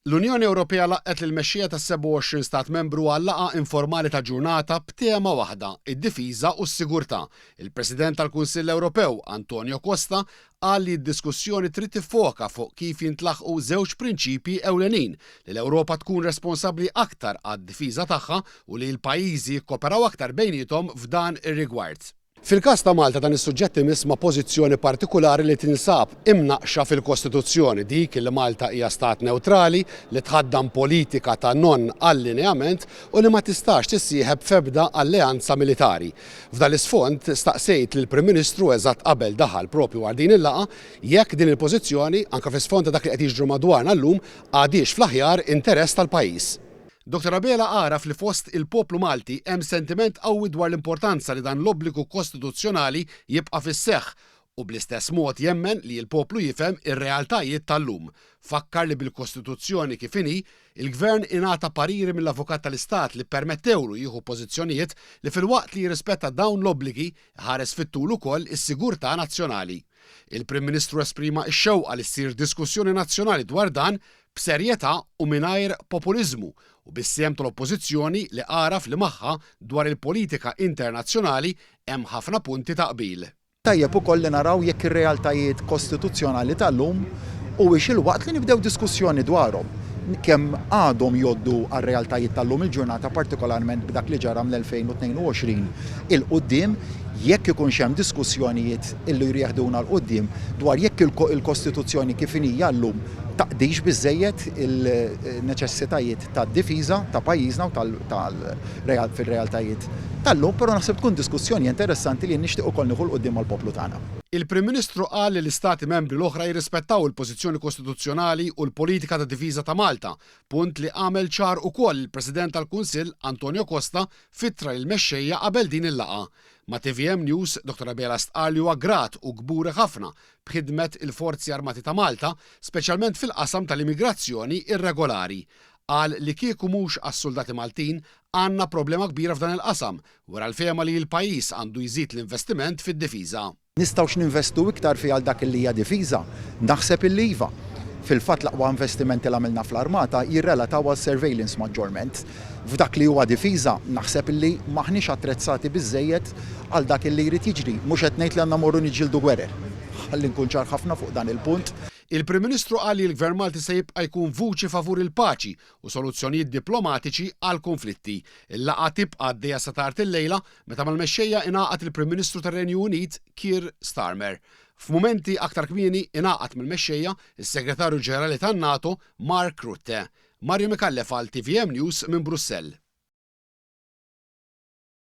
L-Unjoni Ewropea laqqgħet lill-mexxija tas-27 stat membru għal laqgħa informali ta' ġurnata b'tema waħda, id-difiża u s-sigurtà. Il-President tal-Kunsill Ewropew, Antonio Costa, qal li d-diskussjoni trid tiffoka fuq kif jintlaħqu żewġ prinċipji ewlenin, li l-Ewropa tkun responsabbli aktar għad-difiża tagħha u li l-pajjiżi jikkoperaw aktar bejniethom f'dan ir-rigward. Fil-każ ta' Malta dan is-suġġett imiss ma' pożizzjoni partikulari li tinsab imnaqqxa fil-Kostituzzjoni, dik li Malta hija stat newtrali, li tħaddan politika ta' non-allineament u li ma tistax tissieħeb f'ebda alleanza militari. F'dan l-isfond, staqsejt lill-Prim Ministru eżatt qabel daħal propju għal din il-laqgħa jekk din il-pożizzjoni, anke fl-isfond ta' dak li qed jiġri madwarna llum, għadhiex fl-aħjar interess tal-pajjiż. Dottor Abela għaraf li fost il-poplu Malti hemm sentiment qawwi dwar l-importanza li dan l-obbligu kostituzzjonali jibqa' fis-seħħ u bl-istess mod jemmen li l-poplu jifhem ir-realtajiet tal-lum. Fakkar li bil-Kostituzzjoni kif inhi, il-Gvern ingħata pariri mill-Avukat tal-Istat li ppermettewlu jieħu pożizzjonijiet li filwaqt li jirrispetta dawn l-obbligi, iħares fit-tul ukoll is-sigurtà nazzjonali. Il-Prim Ministru esprima x-xewqa li ssir diskussjoni nazzjonali dwar dan b'serjetà u mingħajr populiżmu u bis-sehem tal-Oppożizzjoni li għaraf li magħha dwar il-politika internazzjonali hemm ħafna punti ta' qbil. Tajjeb ukoll li naraw jekk ir-realtajiet kostituzzjonali tal-lum huwiex il-waqt li nibdew diskussjoni dwarhom, kemm għadhom jgħoddu għar-realtajiet tal-lum il-ġurnata partikolarment b'dak li ġara ml-2022 'il quddiem, jekk ikunx hemm diskussjonijiet illi jridu jeħduna 'l quddiem dwar jekk il-Kostituzzjoni kif inhi llum taqdix biżżejjed il-neċessitajiet tad-difiża ta' pajjiżna u fir-realtajiet tal-lum, però naħseb tkun diskussjoni interessanti li nixtieq ukoll nieħu 'l quddiem mal-poplu tagħna. Il-Prim Ministru qal li l-Istati Membri l-oħra jirrispettaw il-pożizzjoni kostituzzjonali u l-politika ta' difiża ta' Malta, punt li għamel ċar ukoll il-President tal-Kunsill Antonio Costa f'ittra lill-mexxejja qabel din il-laqgħa. Ma' tvm News, Dottor Abela stqarr li huwa grat u kburi ħafna b'ħidmet il-Forzi Armati ta' Malta, speċjalment fil-qasam tal-immigrazzjoni irregolari. Qal li kieku mhux għas-suldati Maltin, għandna problema kbira f'dan il-qasam, wera l-fehma li l-pajjiż għandu jżid l-investiment fid-difiża. Nistgħux ninvestu iktar fiha għal dak li hija difiża? Naħseb illi iva. Fil-fatt l-aqwa investimenti li għamilna fl-armata jirrelataw għal surveillance maġġorment. F'dak li huwa difiża, naħseb illi m'aħniex attrezzati biżżejjed għal dak illi jrid jiġri. Mhux qed ngħid li għandna mmorru niġġieldu gwerer. Ħalli nkun ċar ħafna fuq dan il-punt. Il-Prim Ministru qal li l-Gvern Malti se jibqa' jkun vuċi favur il-paċi u soluzzjonijiet diplomatiċi għall-kunflitti. Il-laqgħa tibqa' għaddejja sa tard illejla Meta mal-mexxejja ingħaqad il-Prim Ministru tar-Renju Unit, Keir Starmer. F'mumenti aktar kmieni ingħaqad mal-mexxejja s-Segretarju Ġenerali tan-NATO, Mark Rutte. Mario Micallef għal tvm News minn Brussell.